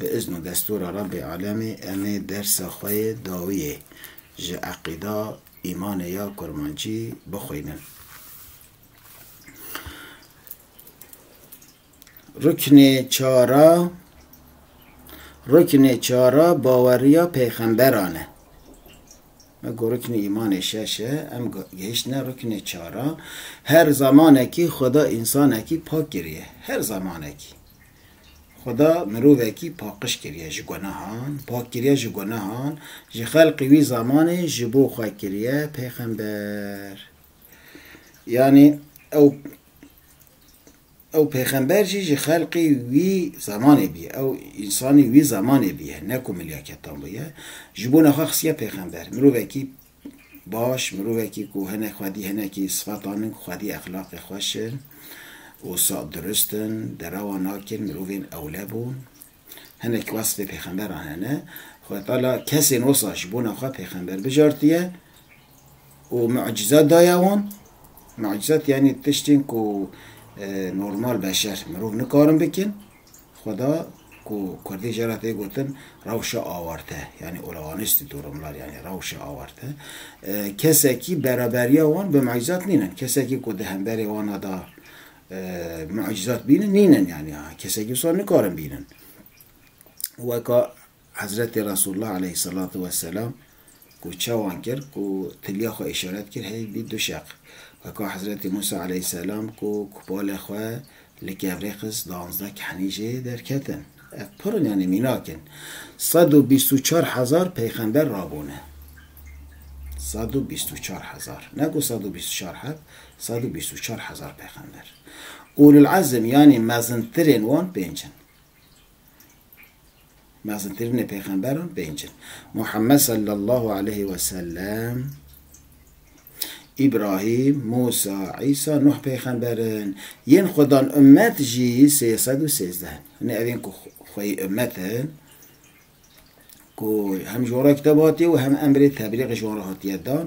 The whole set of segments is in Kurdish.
Bi izn û destûra Rabbê Alemî em ê dersa xwe yê dawiyê ji eqîda, îmanê ya kurmancî bixwînin. Ruknê çar a Ruknê çar a baweriya pêxemberan e. Me got ruknê îmanê şeş e, em gehiştine ruknê çar a. Her zemanekî Xweda însanekî pak kiriye. Her zemanekî. Xweda mirovekî paqiş kiriye ji gunehan, pak kiriye ji gunehan, ji xelqê wî zamanê ji bo xwe kiriye pêxember. Yanî ew ew pêxember jî ji xelqê wî zamanê bûye, ew însanê wî zamanê bûye, ne ku milyaketan bûye, ji bona xwe xisiye pêxember. Mirovekî Baş, mirovekî ku hinek xwedî hinekî sifetan in ku xwedî exlaqê xweş in, wisa dirust in, derewa nakin, mirovên ewle bûn. Hinek wesfê pêxemberan hene. Xwedî Teala kesên wisa ji bona xwe pêxember bijartiye û mucîze daye wan. Mucîze tî yanî tiştên ku normal beşer, mirov nikarin bikin. Xweda ku kurdî jê re tê gotin rewşa awarte yanî olağaniştî durumlar yanî rewşa awarte kesekî beraberiya wan bi mucîzat nînin. Kesekî ku di hemberê wan a de mucîzat bînin nînin yanî kesekî wisa nikarin bînin weka Hezretê Resulullah aleyh selatu we selam ku çawan kir ku tilya xwe îşaret kir heyv bî du şeq. Weka Hezretê Musa aleyh selam ku kupalê xwe li kevrê xist danzdeh kehnî jê derketin. Ev pir in yanî mînak in. Sed û bîst û çar hezar peyxember rabûne. Sed û bîst û çar hezar. Ne ku sed û bîst û çar heb, sed û bîst û çar hezar peyxember. Ulul Ezm yanî mezintirên wan pênc in. Mezintirînê pêxemberan pênc in. Muhammed sallallahu aleyhi ve sellem, Îbrahîm, Mûsa, Îsa, Nuh pêxember in. Yên Xwedan ummet jî sê sed û sêzdeh in. Hinî ev ên ku xweyî ummet in ku hem ji wan re kitêb hatiye û hem emrê teblîxê ji wan re hatiye dan,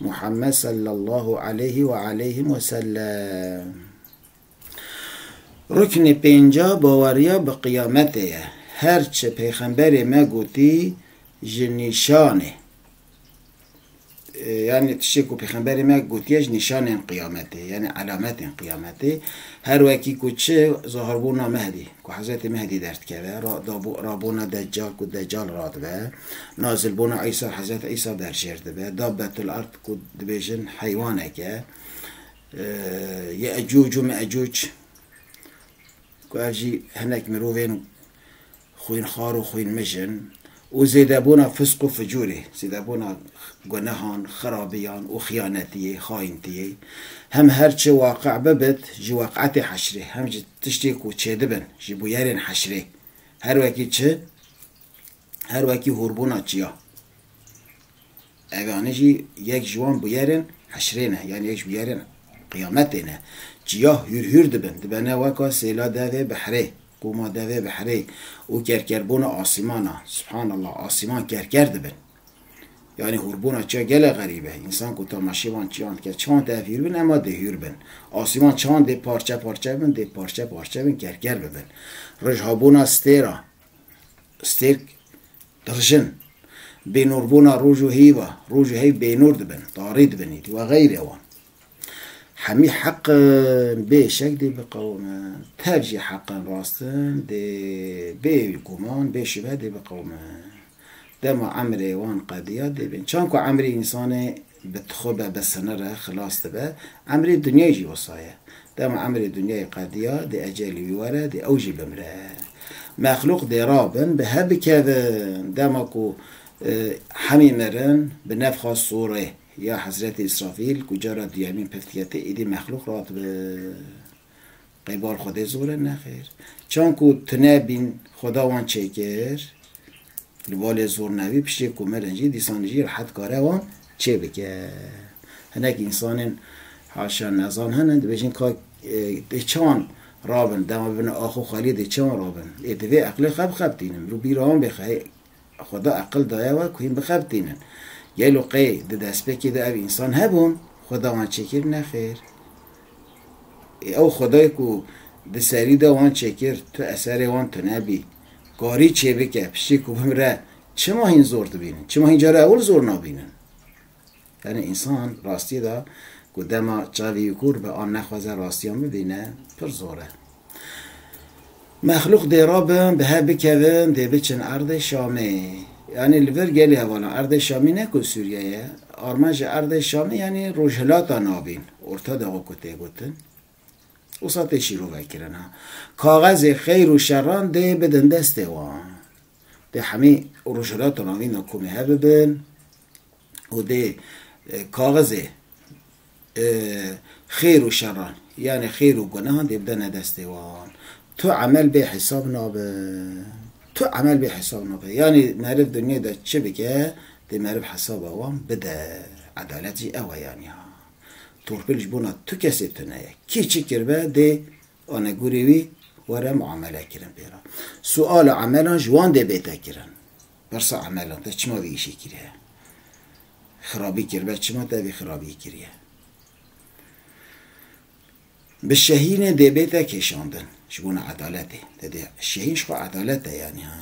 Muhammed sallallahu aleyhi ve aleyhi ve sellem. Ruknê pênca baweriya bi qiyametê ye. Her çi pêxemberê me gotî ji nîşanê yanî tiştê ku pêxemberê me gotiye ji nîşanên qiyametê yanî elametên qiyametê her wekî ku çi zaharbûna Mehdî ku Hezretê Mehdî derdikeve, rabûna Deccal ku Deccal radibe. Nazilbûna Îsa, Hezret Îsa bi hev jêr dibe. Da Betul Ard ku dibêjin heywanek e. Ye'ecûc û Me'ecûc ku ev jî hinek mirovên xwînxwar û xwînmij in û zêdebûna fisq û ficûrê, zêdebûna gunehan, xirabiyan û xiyanetiyê, xayintiyê. Hem her çi waqe' bibit ji weq'etê heşrê, hem ji tiştê ku çêdibin, ji bûyerên heşrê. Her wekî çi? her wekî hûrbûna çiya. Eganî jî yek ji wan bûyerên heşrê ne yanî yek ji bûyerên qiyametê ne. Çiya hûr hûr dibin, dibene weka sêla devê behrê, qûma devê behrê û kerkerbûna asîman a. Subhanallah, asîman kerker dibin. Yanî hûrbûna çiya gelek xerîb e. Însan ku temaşê van çiyan dike, çawan tê ev hûr bin, ema dê hûr bin. Asîman çawan dê parçe parçe bibin, dê parçe parçe bibin, kerker bibin. Roj habûna stêr a. Stêrk qirjin, bênûrbûna roj û hêva, roj û heyv bênûr dibin, tarî dibin êdî û xeyrê wan. Hemî heqin bê şek dê biqewimin, tev jî heqin rastin dê bê guman, bê şuve dê biqewimin. Dema emrê wan qedîya dê bên. Çan ku emrê însanê Bi tixo be be senere xilas dibe. Emrê dinyayê jî wisa ye. Dema emrê dinyayê qediya, dê ecelê wî were, dê ew jî bimre. Mexlûq dê rabin, bi hev bikevin. Dema ku hemî mirin, bi nefxa sûrê ya Hezretî Îsrafîl ku cara duyemîn pif dikete, êdî mexlûq radibe. Qeybar xwedê zor e? Nexêr. Çan ku tune bîn xweda wan çêkir, li ba lê zor nebî, piştê ku mirin jî dîsan jî rehet kare wan çêbike. Hinek însanên haşa nezan hene dibêjin ka ê çan rabin, dema bibin axo xwelî dê çan rabin. Ê divê eqlê xwe bixebitînin, mirov bîra wan bê xwe. Xweda eqil daye we ku hîn bixebitînin. Gelo qey di destpêkê de ev însan hebûn? Xweda wan çêkir? Nexêr. Ê ew Xwedayê ku di serî de wan çêkir, tu eserê wan tunebî, karî çêbike, piştî ku bimre, çima hîn zor dibînin? Çima hîn cara ewil zor nabînin? Tenê însan rastiyê de ku dema çavî û kûr be an nexwaze rastiyan bibîne pir zor e. Mexlûq dê rabin, bi hev bikevin, dê biçin erdê Şamê. Yanî li vir gelê hevalan erdê Şamî ne ku Sûriye ye, armanca erdê Şamî yanî Rojhilata Navîn, Orta Doğu ku tê gotin, wisa tê şîrove kirin. Kaxezê xeyr û şeran dê bidin destê wan. Dê hemî rojhilata navîna komê hev bibin û dê kaxizê xêr û şeran yanê xêr û gunehan dê bidene destê wan. Tu emel bê hesab nabe. Tu emel bê hesab nabe. Yanê meriv dinyayê de çi bike dê meriv hesaba wan bide. Edalet jî ew e yanî ha. Torpil ji bona tu kesê tune ye. Kî çi kiribe dê Anegûrê wî were muamele kirin pê re. Sual û emelan ji wan dê bête kirin. Pirsa emelan te çima vî îşê kiriye? Xirabî kiribe çima te vî xirabîyê kiriye? Bi şehînê dê bête kêşandin ji bona edaletê. Te dê şehîn ji xwe edalet e yanî ha.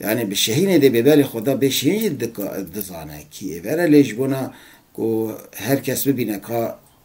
Yanî bi şehînê dê bêberê xwe da bê şehîn jî dizane kî ê vere lê ji bona ku her kes bibîne ka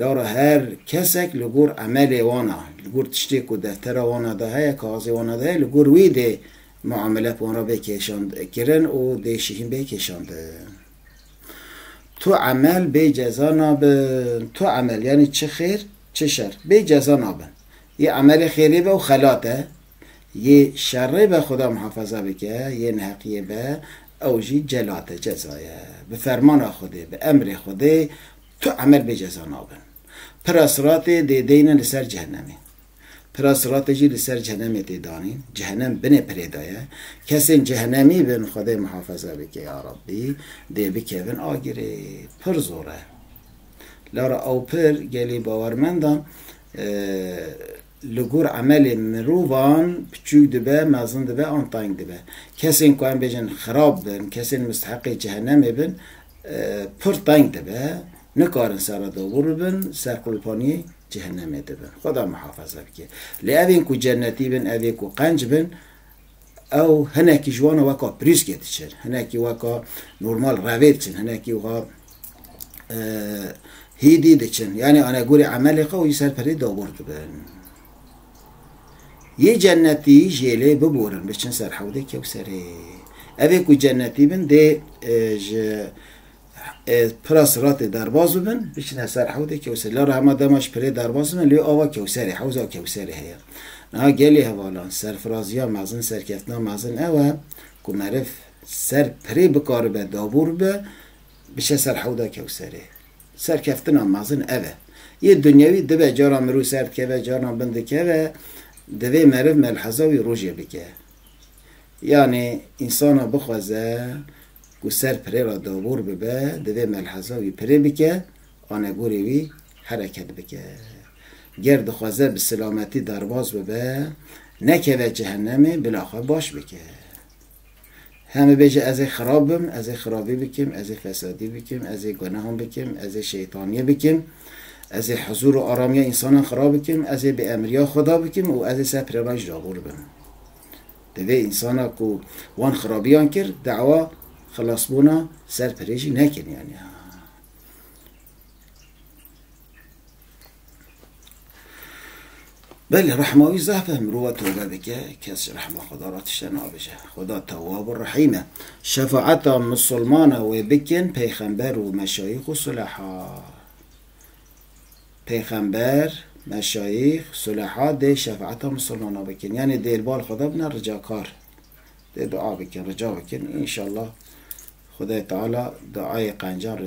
Lora her kesek li gor emelê wan a, li gor tiştê ku deftera wan a de heye, kaxizê wan a de heye, li gor wî dê muamele bi wan re bê kêşand kirin û dê jî hîn bê kêşandin. Tu emel bê ceza nabin. Tu emel yanî çi xêr çi şer bê ceza nabin. Yê emelê xêrê be û xelat e, yê şerê be xuda muhefaza bike, yê neheqiyê be ew jî celat e, ceza ye. Bi fermana Xwedê, bi emrê Xwedê. Tu emel bê ceza nabin. Pira siratê dê deyne li ser cehenemê. Pira siratê jî li ser cehenemê tê danîn. Cehenem binê pirê de ye. Kesên cehenemî bin Xwedê mihafeze bike ya Rabbî dê bikevin agirê. Pir zor e. Lara ew pir gelê bawermendan Li gor emelê mirovan piçûk dibe, mezin dibe an tayng dibe. Kesên ku em bêjin xirab bin, kesên misteheqê cehenemê bin pir tayng dibe, nikarin sere dobûr bibin, serqulpaniyê cehenemê dibin. Xweda mihafeze bike. Lê evên ku cennetî bin, evê ku qenc bin, Ew hinekî ji wan e weka pirîskê diçin, hinekî weka normal revê diçin, hinekî wiha hîdî diçin. Yanî anegorî emelê xwe wî ser pirê dagor dibin. Yê cennetî jê lê biborin biçin ser hewdê kewserê. Evê ku cennetî bin dê ji Pira Siratê derbas bibin, biçine ser hewdê Kewserê. La rehma dema ji pirê derbas bibin, lê ava Kewserê, hewza Kewserê heye. Niha gelê hevalan, serfiraziya mezin, serkeftina mezin ew e ku meriv ser pirê bikaribe dabûr bibe, biçe ser hewda Kewserê. Serkeftina mezin ev e. Yê dinyewî dibe, caran mirov ser dikeve, caran bin dikeve, divê meriv melheza wî rojê bike. Yanî însana bixwaze ku ser pirê re dabûr bibe, divê melheza wî pirê bike, anegûrê wî hereket bike. Ger dixwaze bi silametî derbas bibe, nekeve cehenemê, bila xwe baş bike. He bibêje ez ê xirab bim, ez ê xirabî bikim, ez ê fesadî bikim, ez ê gunehan bikim, ez ê şeytaniyê bikim, ez ê huzûr û aramiya însanan xirab bikim, ez ê bêemriya Xweda bikim û ez ê ser pirê re jî dabûr bim. Divê însana ku wan xirabiyan kir dawa xilasbûna ser pirê jî nekin yanî. Belê rehma wî zehf e mirova tewbe bike kes rehma xweda ra tişte nabije. Xweda tewab û rehîm e. Şefaeta misilmana wê bikin peyxember û meşayîx û suleha. Pêxember, meşayîx, suleha dê şefaeta misilmanan bikin. Yanî dê li bal Xweda bine ricakar. Dê dua bikin, rica bikin. Înşallah Xwedayê Teala duayê qencan,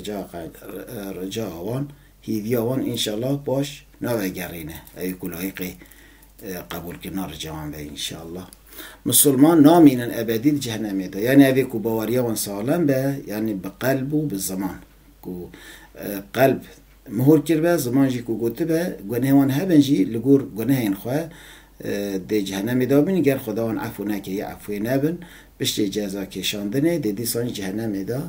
rica wan, hîviya wan înşallah baş navegerîne. Ewî ku layiqê qebûlkirina rica wan be înşallah. Misilman namînin ebedî di cehenemê de. Yanî evê ku baweriya wan salem be, yanî bi qelb û bi ziman. Ku qelb mihûr kiribe, ziman jî ku gotibe, gunehên wan hebin jî li gor gunehên xwe dê cehenemê de bin, ger Xweda wan efû neke yê efûyê nebin, piştê ceza kêşandinê dê dîsan ji cehenemê de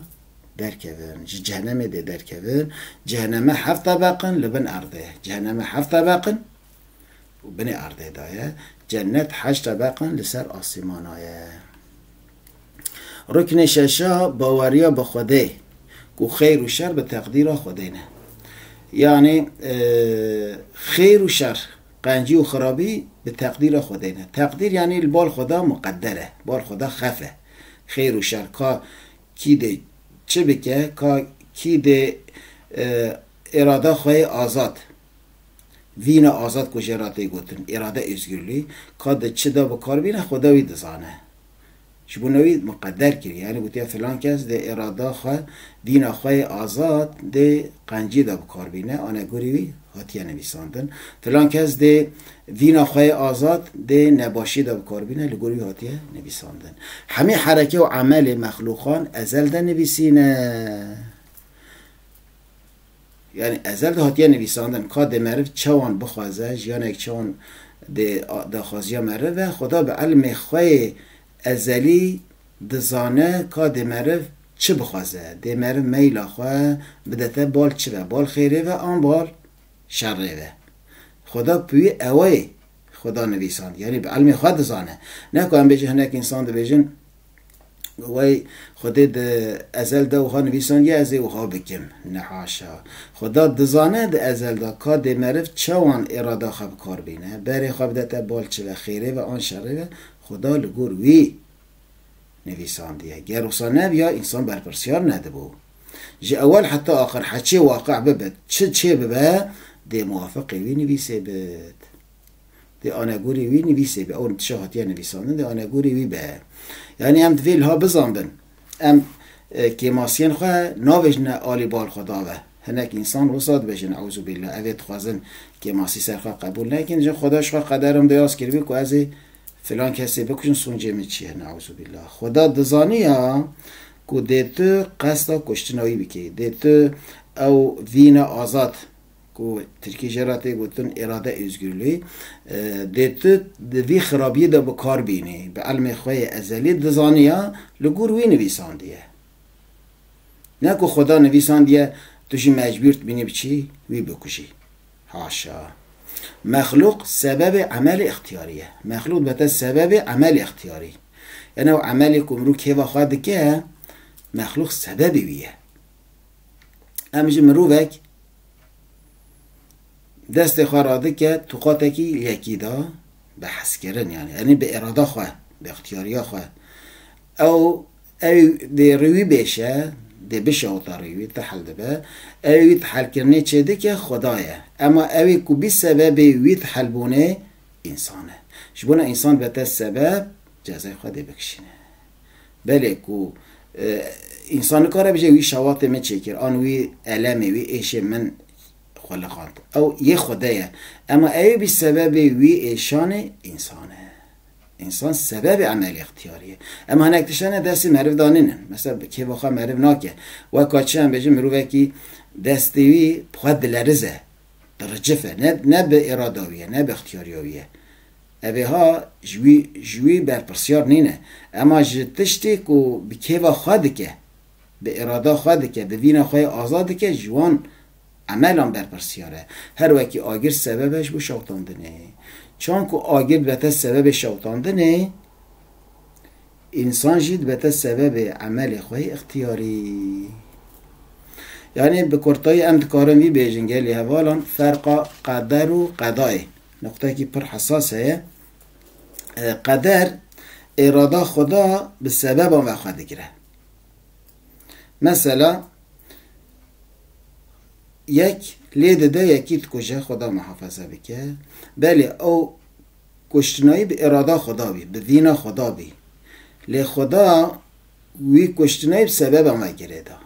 derkevin. Ji cehenemê dê derkevin. Ceheneme heft tebeq in li bin erdê. Ceheneme heft tebeq in. û binê erdê de ye, cennet heşte beqan li ser asîmana ye. Ruknê şeşa baweriya bi Xwedê ku xêr û şer bi teqdîra Xwedê ne. Yanî xêr û şer, qencî û xirabî bi teqdîra Xwedê ne. Teqdîr yanî li bal Xweda muqeder e, bal Xweda xef e. Xêr û şer ka kî dê çi bike, ka kî dê îrada xwe yê azad Vîna azad ku jê re tê gotin Îrade Ozgurlî, ka di çi de bi kar bîne xweda wî dizane. Ji bo ne wî miqeder kiriye. Yanî gotiye filan kes dê îrada xwe, vîna xwe yê azad dê qencî de bi kar bîne, anegorî wî hatiye nivîsandin. Filan kes dê vîna xwe yê azad dê nebaşî de bi kar bîne, li gor wî hatiye nivîsandin. Hemî hereke û emelê mexlûqan ezel de nivîsîne. Yanî ezel de hatiye nivîsandin ka dê meriv çawan bixwaze, jiyanek çawan dê daxwaziya meriv e, Xweda bi elmê xwe yê ezelî dizane ka dê meriv çi bixwaze, dê meriv meyla xwe bidete bal çi ve, bal xêrê ve an bal şerê ve. Xweda ku wî ewayê Xweda nivîsand, yanî bi elmê xwe dizane. Ne ku em bêjin hinek însan dibêjin, Wey, Xwedê di ezel de wiha nivîsandiye ez ê wiha bikim? Ne haşa. Xweda dizane di ezel de ka dê meriv çawan îrada xwe bi kar bîne, berê xwe bidete bal çi ve xêrê ve an şerê ve, Xweda li gor wî nivîsandiye. Ger wisa nebiya însan berpirsyar nedibû. Ji ewel heta axir heçê waqe bibit, çi çê bibe dê muwafiqê wî nivîsê bit. Dê anegorê wî nivîsê be. Ew nitişa hatiye nivîsandin dê anegorê wî be. Yanî em divê liha bizanbin. Em kêmasiyên xwe navêjine alî bal xwe dave. Hinek însan wisa dibêjin eûzûbîllah. Ev ê dixwazin kêmasî ser xwe qebûl nekin. Jin Xweda ji xwe qederan beyaz kiribû ku ez ê filan kesê bikujin sûncê min çi ye neûzûbîllah. Xweda dizaniya ku dê tu qesda kuştina wî bikî. Dê tu ew vîne azad. Ku tirkî jê re tê gotin Îrade Ozgurlû, dê tu di vî xirabiyê de bi kar bînî. Bi elmê xwe yê ezelî dizaniya li gor wî nivîsandiye. Ne ku xweda nivîsandiye tu jî mecbûr dibînî biçî wî bikujî. Haşa! Mexlûq sebebê emelê îxtiyarî ye. Mexlûq dibete sebebê emelê îxtiyarî. Yan ew emelê ku mirov kêfa xwe dike, mexlûq sebebê wî ye. Em ji mirovek destê xwe radike tuqatekî yekî da bi hezkirin yani enê bi irada xwe bi ixtiyariya xwe ew ew dê rêwî bêşe dê bişe ota rêwî tehel dibe ew wî tehelkirinê çêdike xweda ye ema ewê ku bî sebebê wî tehelbûnê însan e ji bo ne însan bete sebeb cezayê xwe dê bikişîne. Belê ku însan nikare bije wî şewatê min çêkir an wî elemê wî êşê min xwe lixand. Ew yê xwe de ye. Ema ewê bî sebebê wî êşanê însan e. Însan sebebê emelê îxtiyarî ye. Em hinek tiştene destê meriv de nînin. Mesela kêfa xwe meriv nake. Weka çi em bêjin mirovekî destê wî bi xwe dilerize. Diricif e. Ne bi îrada wî ye, ne bi îxtiyarîya wî ye. Ebeha ji wî ji wî berpirsyar nîne. Ema ji tiştê ku bi kêfa xwe dike, bi îrada xwe dike, bi vîna xwe yê azad dike ji wan emelan berpirsyar e. Her wekî agir sebeb e ji bo şewitandinê. Çan ku agir dibete sebebê şewitandinê, însan jî dibete sebebê emelê xwe yê îxtiyarî. Yanî bi kurtayî em dikarin vî bêjin gelê hevalan ferqa qeder û qedayê Noqtekî pir hesas heye. Qeder îrada xweda bi sebeban ve xwe digire. Mesela yek lê dide yekî dikuje xweda mihafeze bike. Belê ew kuştinayî bi îrada xweda bî, bi vîna xweda bî. Lê xweda wî kuştinayî bi sebeban ve girêda.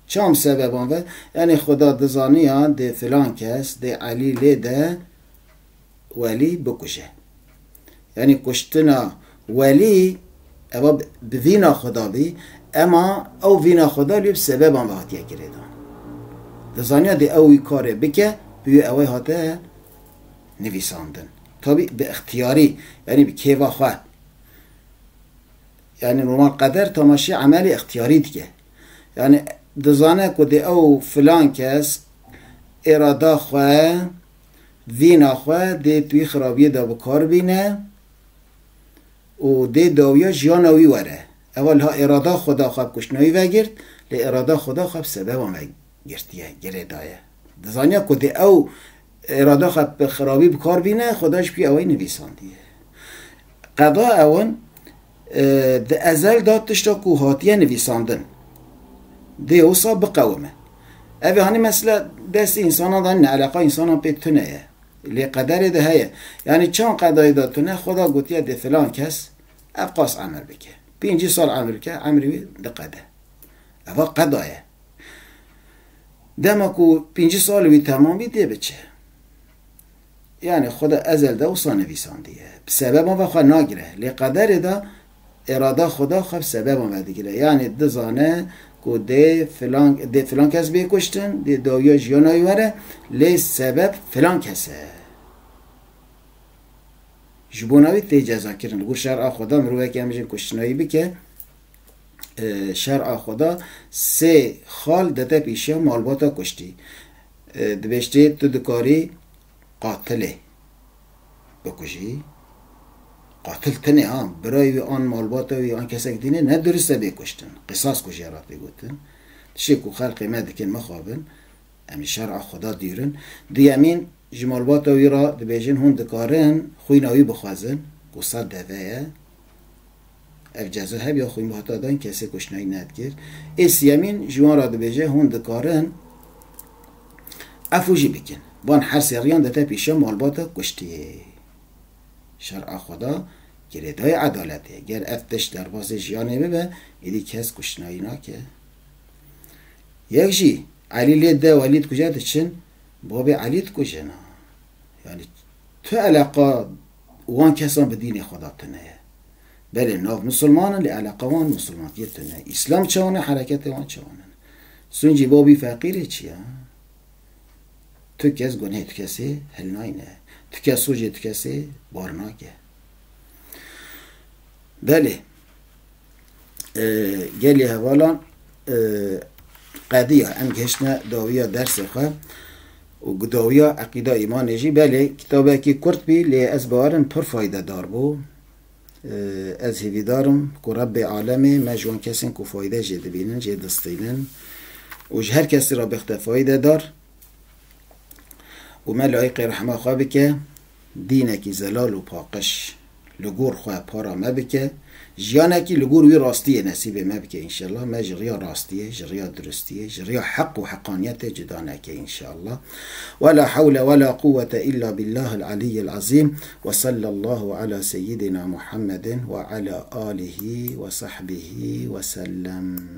Çam sebeban ve, enê xuda dizaniya dê filan kes dê Elî lê de Welî bikuje. Enê kuştina Welî eva bi vîna xuda bî, ema ew vîna xuda lê bi sebeban ve hatiye girêdan. Dizaniya dê ew wî karê bike, bi wî ewey hate nivîsandin. Tabî bi îxtiyarî, enê bi kêfa xwe. Yanî roman qeder tamaşî emelê îxtîyarî dike. Yanî dizane ku dê ew filan kes îrada xwe, vîna xwe dê twî xirabîyê de bi kar bîne û dê dawîya jîyana wî were. Ewa liha îrada xwe da xwe bi kuştina wî vegirt, lê îrada xwe da xwe bi sebeban vegirtîye, girê daye. Dizanîya ku dê ew Îrada xwe bi xirabî bikar bîne, Xuda ji ku ewayî nivîsandiye. Qeda ewin di ezel de tişta ku hatiye nivîsandin dê wisa biqewime. Ev ê hanî mesele destê însanan de ne, eleqa însanan pê tune ye. Lê qederê de heye. Yanî çend qedayê de tune, Xuda gotiye dê filan kes evqas emir bike. Pêncî sal emir bike, emrê wî diqede. Eva qeda ye. Dema ku pêncî salê wî temam bî dê biçe. Yani xwe de ezel de wisa nivîsandiye. Bi sebeban ve xwe nagire. Lê qederê de îrada xwe de xwe bi sebeban ve digire. Yani dizane ku dê filan dê filan kes bê kuştin, dê dawiya jiyana wî were, lê sebeb filan kes e. Ji bona wî tê cezakirin. Li gor şer'a xwe de mirovek em jin kuştina wî bike, şer'a xwe da, sê xal dete pîşiya malbata kuştî. Dibêjtê tu dikarî qatilê bikujî. Qatil tenê ha, birayê wî an malbata wî an kesek dîn e, ne dirust e bê kuştin. Qisas ku jê re tê gotin. Tiştê ku xelkê me dikin mixabin, em ji şer'a Xweda dûr in. Duyemîn, ji malbata wî re dibêjin hûn dikarin xwîna wî bixwezin ku sed deve ye, Ev ceza hevya xwîn bi hata dan kesê kuştinayî nedikir. Ê siyemîn ji wan re dibêje hûn dikarin efûjî bikin. Van her sê riyan dite pîşa malbata kuştiyê. Şer a xweda girêdayê edaletê ye. Ger ev tişt derbasê jiyanê bibe êdî kes kuştinayî nake. Yek jî Elî lê de û Elî dikuje diçin babê Elî dikujin. Yanî tu eleqa Wan kesan bi dînê xwe da tune ye. Belê nav misilman in lê eleqa wan misilmantiyê tune ye. Îslam çewan e hereketê wan çewan in. Suncî Bobî feqîrê çi ya? Tu kes gunhê tu kesê hil nayne. Tu kes sojê tu kesê bar nake. Belê. gelê hevalan qediya em gihiştine dawiya dersê xwe û bi dawiya eqîda îmanê jî belê kitabekî kurt bî lê ez bawerim pir faydedar bû. Ez hêvîdar im ku Rebbê alemê me ji wan kesên ku fayde jê dibînin jê distînin û ji her kesî re bixte faydedar û me layiqê rehma xwe bike. Dînekî zelal û paqij li gor xwe para me bike, jiyanekî li gor wî rastiyê nesîbê me bike înşellah, me ji riya rastiyê, ji riya duristiyê, ji riya heq û heqaniyetê cuda neke înşellah. Wela hewle wela quwete îlla bîllahil alîyyil azîm we sallallahu ala seyyidina Muhammedin we ala alihî we sahbihî wesellem.